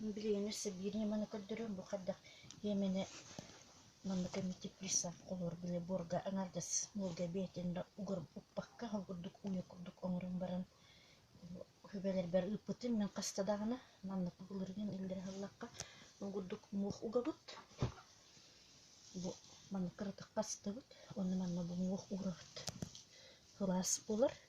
Билигин өссө биир ньыманы көрдөрүм, бу хайдах иэмэни манна кэмитиэт приставка олорбуйа буорга аҥардас буорга эбээтин да угуруппакка ол курдук уйа курдук оҥорон баран сүбэлэрбэр ыыппытым. Мин хаста даҕаны маннык былыргы иллэри аһыллахха ол курдук муох угабыт, бу маннык кыратык хастыбыт, онно манна бу муох уурабыт. Сылаас буолар.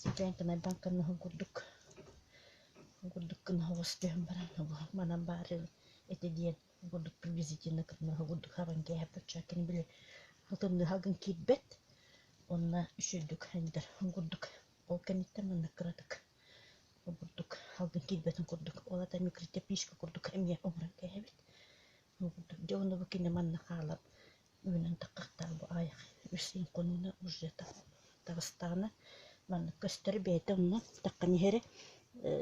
Ситэн тумайбан кымнаһын курдук курдук кымнаһыгыс түһэн баран манан баары ити диэн курдук приблизительно кымнаһы курдук хабан кээһэппит чаккын били тымныыга гын киирбэт онно үс үрдүк аньдар курдук ол кэнниттэн маннык кыратык ол курдук алгын киирбэтин курдук ол ата микротяпишка курдук эмиэ оҥорон кээһэбит ол курдук дьэ онно бу кини манна хаалан Үүнэн таххахтара бу аҕыйах үс хонууна уже таҕыстаҕына маннык көстөр бэйэтэ онно таххан иһэри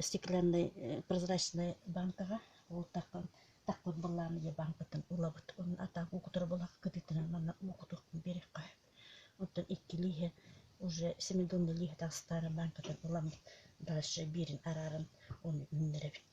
стекляннай прозрачнай бааҥкаҕа ол таххан тахпыт былаан ийэ бааҥкатын ылабыт онно атаах уокутура булах кытыытынан манна уокутуркун биэриэххэ оттон икки лииһэ уже семидонна лииһэ таҕыстаары бааҥкатын ыламмыт дальше биэрин арааран ону үүннэрэбит